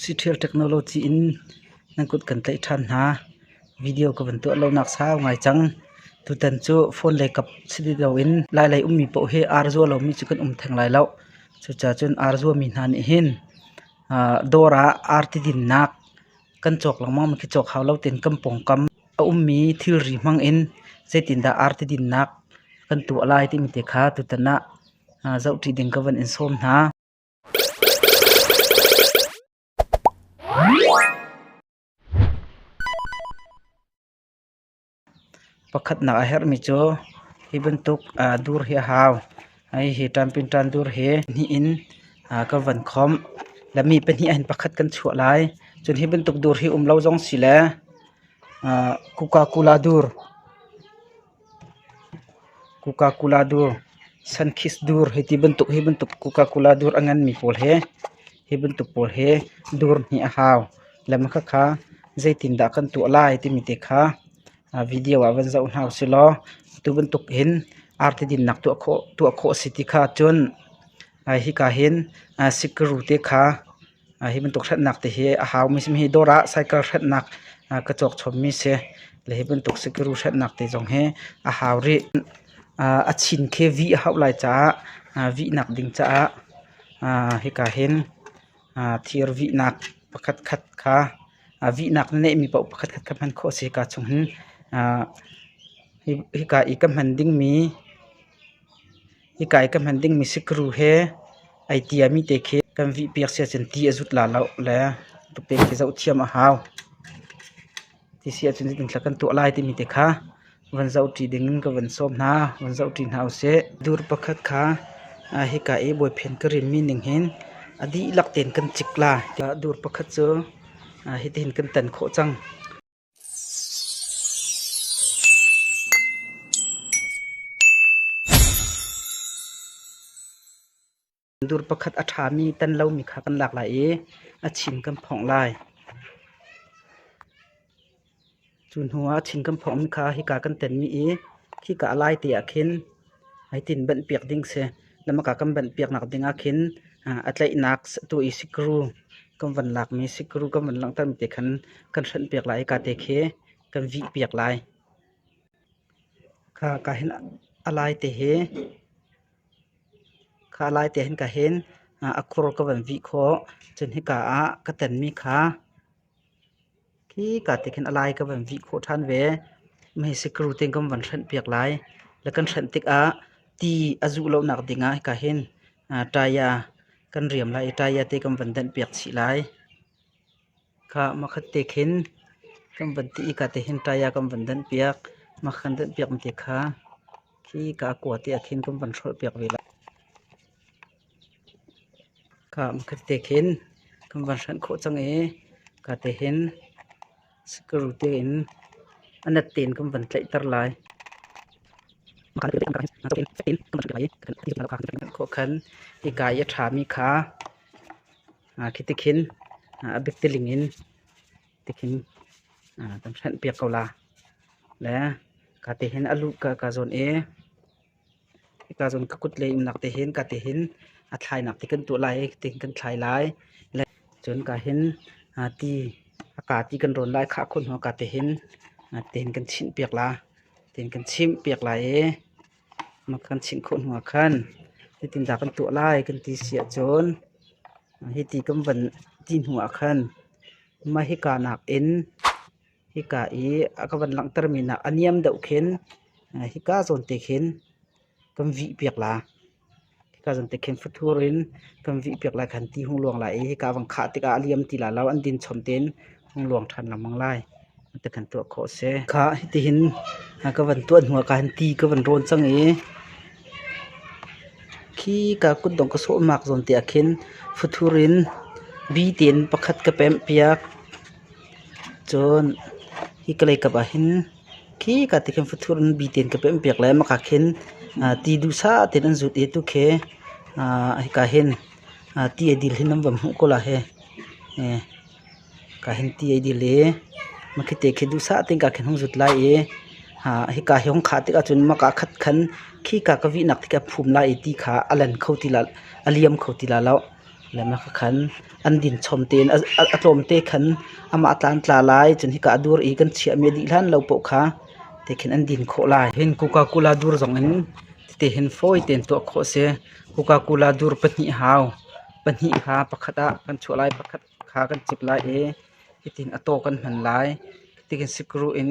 Siṭhial technology in nan kut kan tlaih ṭhan hna. Video ka van tuah lonak sau ngai cang. Tutan cu phone le kap si ti loin lailei ummi paoh hi arzual lomi cu kan um theng lai loh. Cucacun arzuami hna nih hin dawr ah arti dinnak kan cawk lengmang mi khi cawk hau lo tein kan pawngkam a ummi thilri hmang in zeitindah arti dinnak kan tuah lai timi te kha tutan ah zoh ṭi ding ka van in sawm hna. Pakhatnak a herhmi cu hi bantuk dur hi a hau. Hihi ṭampinṭan dur hi hnih in ka van khawmh. Le mi pahnih ahhin pakhat kan chuah lai. Cun hi bantuk dur hi um lo zong si le Coca-Cola dur Coca-Cola dur, Sunkist dur hi ti bantuk hi bantuk Coca-Cola dur a nganmi pawl he, hi bantuk pawl he dur nih a hau. Lam khakha zeitindah kan tuah lai timi te kha video ah van zoh hna usilaw atu bantuk hin arti dinnak tuah khawh a si ti kha cun hika hin sikuru te kha Hi bantuk hretnak te hi a hau mi si. Hi dawr ah cycle hretnak ka cawk chawm mi si. Le hi bantuk sikiru hretnak te zong hi a hau rih. A chin khi vih a hauh lai caah vihnak ding caah hika hin thir vihnak pakhat khat kha vihnak na neih mi paoh pakhat khat kha hman khawh a si. Hika chung hin hika i ka hman ding mi Hika i ka hman ding misikru he ai tiami te khi kan vihpiak siahcun ti a zut la lo le rupek hi zoh thiam a hau. Ti siahcun zeitin thlak kan tuah lai timi te kha van zoh ṭi ding in ka van sawm hna. Van zoh ṭi hna usih. Dur pakhat kha hika i bawiphen ka rimmi ning hin a dihlak tein kan cik lai. Dur pakhat cu hitihin kan tan khawh cang. Dur pakhat a ṭhami tan lomi kha kan lak lai i a chin kan phongh lai. Cu hnuah a chin kan phonghmi kha hika kan tenmi i khika a lai te ah khin Haitin banh piak ding si. Na maka kan banh piaknak ding ah khin a tlaihnak atu i sikru kan van lakmi sikru kan van langhter mi te khan kan hrenh piak lai i ka te khi kan vih piak lai. Kha ka hin a lai te hi kha a lai te hin ka hin a khur ka van vih khawh. Cun hika ah ka tenmi kha Khika te khin a lai ka van vih khawh ṭhan ve. Mesikuru tein kan van hrenh piak lai. Le kan hrenh tikah ti a zuh lonak dingah hika hin taya kan riam lai i taya te kan van denh piak chih lai. Kha makhat te khin kan van ti i hika te hin taya kan van denh piak. Makhat kan denh piakmi te kha khika a kua te ah khin kan van hrolh piak ve lai. Ka hmakhat te khin kan van hranh khawh cang i ka te hin sikuru te in a nat tein kan van tlaihter lai. Khawh khan hika i a ṭhami kha khi ti khin a bik tiling in ti khin kan hranh piak ko la. Le ka te hin a luh ka zawn i. Hika cun ka kut le innok te hin ka te hin a thlainak te kan tuah lai i ti hin kan thlai lai. Cun ka hin ti a ka ti kan rawn lai khah khun hnu ka te hin ti hin kan chinh piak la. Ti hin kan chimh piak lai i kan chinh khun hnu ah khan titindah kan tuah lai kan ti si ahcun hi ti kan van ti hnu ah khan mah hika nak in Hika i a ka van langhtermi nak a niam deuh khin hika zawn te khin kan vih piak la. Hika zawn te khin futhur in kan vih piak lai khan ti hung luang lai i hika vang khah tikah a liam ti lai lo. An din chom tein hung luang ṭhan lengmang lai. Ti kan tuah khawh a si. Kha hitihin ka van tuah hnu ah khan ti ka van rawn cang i khi ka kutdong ka sawhmak zawn te ah khin futhur in bi tein pakhat ka pemh piak. Cun hi ka leikap ah hin khika tikhin fathur in bi tein ka pemhpiak le mah ah khin ti duhsah tein an zut i atu khi hika hin ti a dil hi nan van hmuh ko la hi. Hika hin ti a dil i mah khi te khi duhsah tein kaa khin hung zut lai i hika hi hung khah tikah cun mah kaa khat khan khika ka vihnak tikah a phum lai i ti kha a len kho ti la, a liam kho ti la lo. Lamhla ka khan an din chom tein a tlawmte khan amah a tlan tla lai. Cun hika a dur i kan chiahmi a dih hlan lo poh kha te khin an din khawh lai. Hin Coca-Cola dur zongin tete hin fawi tein tuah khawh a si. Coca-Cola dur pahnih hau, pahnih kha pakhat ah kan chuah lai, pakhat kha kan cip lai i hitin a taw kan hman lai. Tihin sikru in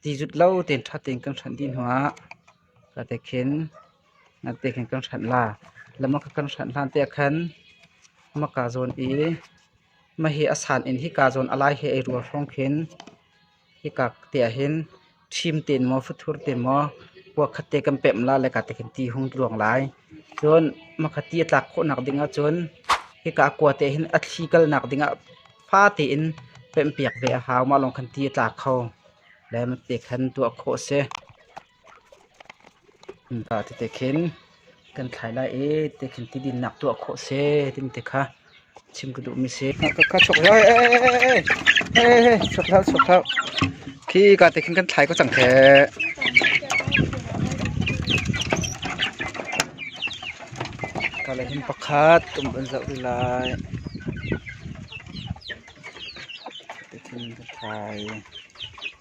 ti zut lo tein ṭha tein kan hranh dih hnu ah Ati khin nati khin kan hranh la. Lamaka kan hranh hlan te khan maka zawn i mahi a san in hika zawn alai he ei rual hrawng khin hika te ah hin thim tein maw futhur tein maw kua khat te kan pemh la le ka te khin ti hung luang lai. Cun maka ti a tlak khawhnak ding ahcun hika kua te hin a thli kalnak ding ah fa tein pemhpiak ve a hau. Mah lawng khan ti a tlak kho. Le mate khan tuah khawh a si. Innpa tete khin kan thlai lai i te khin tidinnak tuah khawh seh timi te kha chim ka duhmi a si. Ka chuk hlah ee, ee, chuk hlah, chuk hlah. Khi ka te khin kan thlai ko cang kheh. Ka le hin pakhat tum an zoh rih lai. Te khin ka thlai.